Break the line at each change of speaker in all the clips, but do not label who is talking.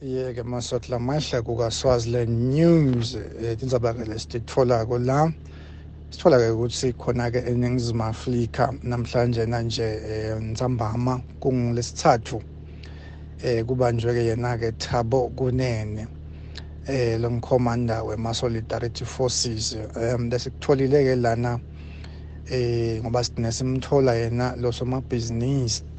yeke masotla mahle kukaswaziland news um eh, tindzaba-ke lesititfolako la sithola-ke ukuthi khona-ke eningizimu afrika namhlanje nanje um ntsambama kungolesithathu um eh, kubanjwe-ke yena-ke thabo kunene um lo mkhomanda wema-solidarity forces um lesikutholile-ke lana um ngoba sigcine simthola yena losomabhizinisi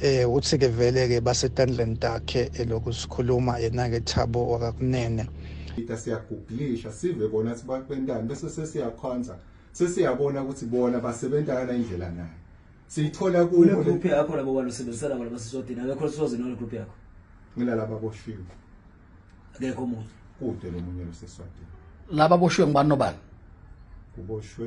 Eh uthi ke vele ke basetandleni takhe eloku sikhuluma yena ke Thabo wakakunene. Ita siyaguglisha
sive bona sibakwentana bese sesiyakhonza sesiyabona ukuthi bona basebenza kana indlela nayo. Siyithola kuyo le group yakho labo bantu
sebenzisana ngoba sisodina akekho sizoze nole group yakho. Ngila laba
boshiwe.
Akekho umuntu. Kude lo munye
loseswadini. Laba boshiwe
ngibani nobani? Kuboshwe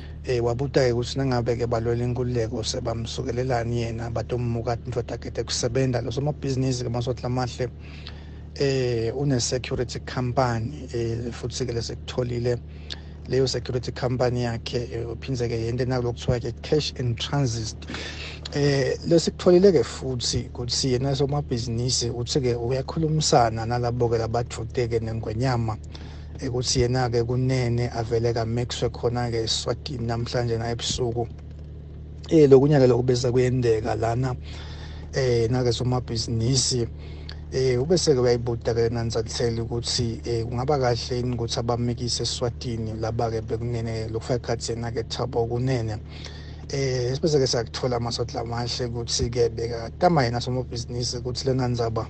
Eh wabuta-ke ukuthi nangabe-ke balwela inkululeko sebamsukelelani yena batommuka indoda kete kusebenza lo somabhizinisi-ke masotla amahle eh une-security company eh futhi-ke lesekutholile leyo security company yakhe eh, uphindze-ke yento enakulo kuthiwa-ke cash and transit eh lesikutholile-ke futhi ukuthi yena somabhizinisi uthi-ke uyakhulumisana nalabo-ke labathute-ke nengwenyama ekuthi yena-ke kunene avele kamixwe khona-ke eswatini namhlanje na ebusuku eh lokunyaka lokhu bese kuyendeka lana eh nake somabhizinisi eh ubese-ke uyayibuda ke nanzatheli ukuthi eh kungaba kahle yini ukuthi abamikise eswatini laba-ke bekunene lokufaka ikhathi yena-ke thabo kunene eh sibese-ke sakuthola amasodla amahle ukuthi-ke bekatama yena somabhizinisi ukuthi lena nzaba